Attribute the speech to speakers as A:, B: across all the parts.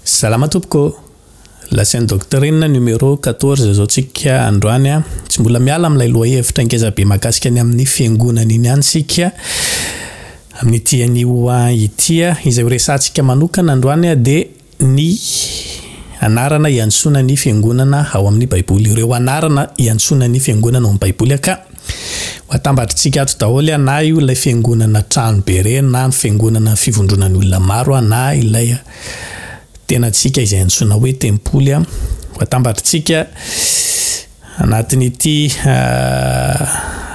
A: Salama tompoko ô! Lazain'i Docteur inona numéro quatorze zao tsika androany a! Tsy mbola miala amin'ilay lohahevitra ngeza be mahakasika ny amin'ny fiangonana iny ihany tsika amin'ity anio ity a! Izay horesahantsika manokana androany a dia ny anarana hiantsoana ny fiangonana ao amin'ny baiboly, ireo anarana hiantsoana ny fiangonana ao amin'ny baiboly aka! Ho atambatritsika ato daholo an, na io ilay fiangonana trano be ireny na ny fiangonana fivondronan'ny olona maro an, na ilay tenantsika izay antsoina hoe tempoly an, ho atambatritsika anatin'ity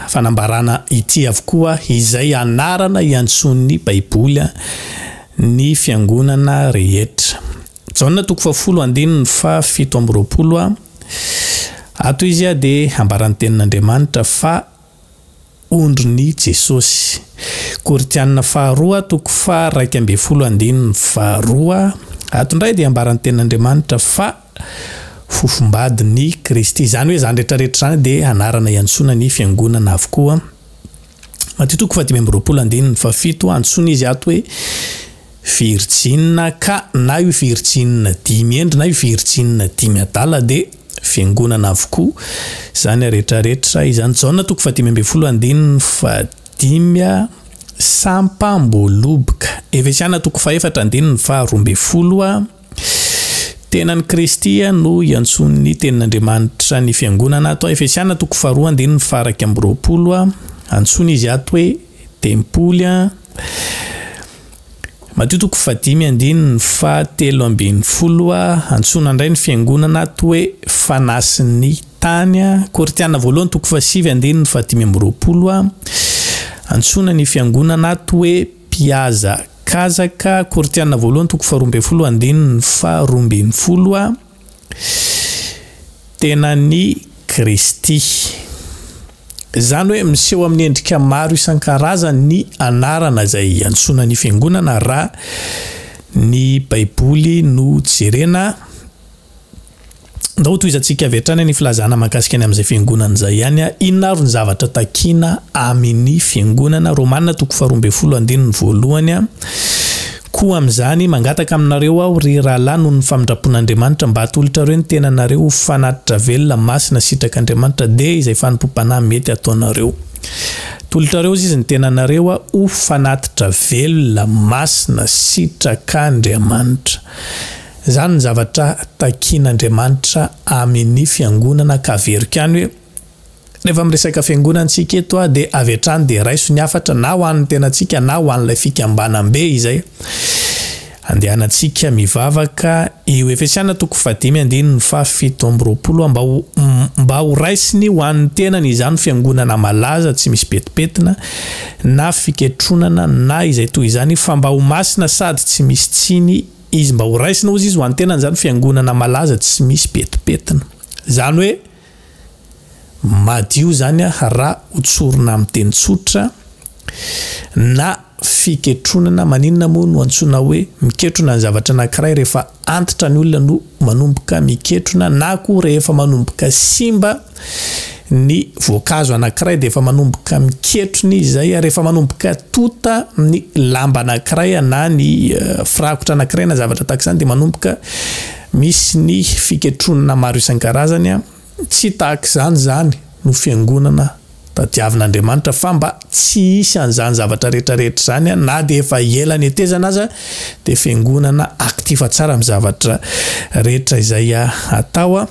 A: fanambarana ity avokoa izay anarana iantsoan'ny baiboly ny fiangonana rehetra. Jaona toko fahafolo andininy faha fito amby roapolo a ato izy a dia ambara ny tenin'Andriamanitra fa ondrin'i Jesosy. Korintianina faharoa toko faha raika ambin'ny folo andininy faha roa ato indray dia ambara ny tenin'Andriamanitra fa fofombadin'i Kristy. Izany hoe izany rehetra rehetra izany dia anarana iantsoana ny fiangonana avokoa. Matio toko fahadimy amby roapolo andininy fahafito, antsoina izy ato hoe virijinina ka na io virijinina dimy hendry na io virijinina dimy adala dia fiangonana avokoa izany rehetrarehetra izany. Jaona toko fahadimy ambin'ny folo andininy fahadimy a sampam-boaloboka. Efesiana toko fahefatra andininy faharoa ambin'ny folo a. Tena an'i Kristy no iantsoan'ny Tenin'Andriamanitra ny fiangonana. Tao Efesiana toko faharoa andininy faharaika amby roapolo, antsoina izy ato hoe tempoly. Matio toko fahadimy andininy fahatelo ambin'ny folo, antsoina indray ny fiangonana ato hoe fanasin'ny tany. Korintiana voalohany toko fahasivy andininy fahadimy amby roapolo, antsoina ny fiangonana ato hoe Mpihazakazaka, Korintiana voalohany toko faharoa ambin'ny folo andininy faharoa ambin'ny folo a Tenan'i Kristy. Izany hoe miseho amin'ny endrika maro isan-karazany ny anarana izay iantsoana ny fiangonana raha ny Baiboly no jerena. Ndao hotohizantsika avy hatrany ny filazana mahakasika ny amin'izay fiangonana izay ihany a. Inona avy ny zavatra takiana amin'ny fiangonana? Romana toko faharoa ambin'ny folo andininy voalohany a. Koa amin'izany, mangataka aminareo aho, ry rahalahy, noho ny famindram-pon'Andriamanitra, mba atolotrareo ny tenanareo ho fanatitra velona, masina, sitrak'Andriamanitra, dia izay fanompoam-panahy mety hataonareo. Atolotrareo, hoy izy, ny tenanareo ho fanatitra velona, masina, sitrak'Andriamanitra. Izany ny zavatra takian'Andriamanitra amin'ny fiangonana ka averiko any hoe, rehefa miresaka fiangonana isika eto aho dia avy hatrany dia raiso ny hafatra na ho an'ny tenantsika na ho an'ilay fikambanam-be izay andehanantsika mivavaka eo Efesiana toko fahadimy andininy fahafito amby roapolo mba ho mba ho raisiny ho an'ny tenany izany fiangonana malaza tsy misy petipetina na fiketronana na izay toy izany fa mba ho masina sady tsy misy tsiny Izy mba ho raisina hozy izy ho an'ny tenany izany fiangonana malaza tsy misy petipetina. Izany hoe madio izany aho raha ho tsorina amin'ny teny tsotra na fiketronana. Maninona moa no antsoina hoe miketrona ny zavatra anankiray? Rehefa antitra ny olona no manomboka miketrona na koa rehefa manomboka simba. ny voankazo anankiray dia efa manomboka miketrona izy izay ary efa manomboka tonta ny lamba anankiray na ny firakotra anankiray na zavatra tahaka izany dia manomboka misy ny fiketronana maro isan-karazany a tsy tahaka izany izany no fiangonana tadiavin'Andriamanitra fa mba tsy hisy an'izany zavatra rehetrarehetra izany a na dia efa ela netezana aza dia fiangonana aktifa tsara amin'ny zavatra rehetra izay atao a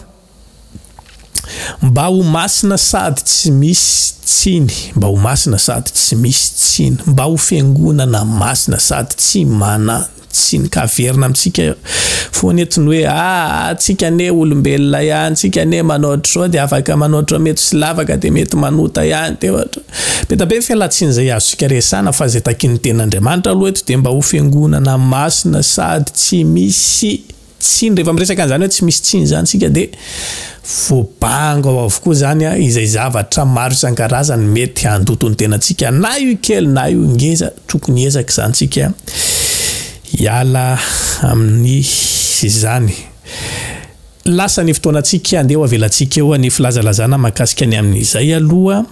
A: Mba ho masina sady tsy misy tsiny Mba ho masina sady tsy misy tsiny Mba ho fiangonana masina sady tsy manan-tsiny Ka averina amintsika foana eto ny hoe Aa tsika anie olombelona ihany Tsika anie manao ohatr'izao dia afaka manao ohatr'izao Mety tsy lavaka dia mety manota ihany dia ohatr'izao Be da be ny fialantsiny izay azontsika resahana Fa izay takin'ny tenin'Andriamanitra aloha eto dia Mba ho fiangonana masina sady tsy misy Tsiny, rehefa miresaka an'izany hoe tsy misy tsiny izany isika dia voabango ao avokoa izany izay zavatra maro isan-karazany mety handoto ny tenantsika, na io kely na io ngeza, tokony hiezaka izany isika hiala amin'izany. Lasa ny fotoanantsika, andeha ho avelantsika eo ny filazalazana mahakasika ny amin'izay aloha,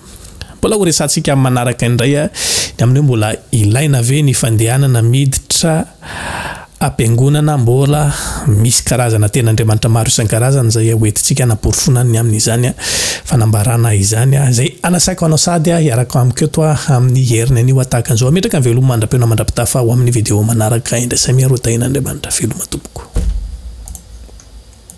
A: mbola ho resahantsika amin'ny manaraka indray ny amin'ny hoe mbola ilaina ve ny fandehanana miditra, Ampiangonana mbola misy karazana teny andriamanitra maro isan-karazany izay hoentintsika hanaporofoana ny amin'izany fanambarana izany izay anasaiko anao sady hiaraka amiko eto amin'ny heriny anio tahaka an'izao. Hametraka ny veloma mandra-peo mandra-pitafa ho amin'ny video manaraka indray. Samia rodain'Andriamanitra veloma tompoko.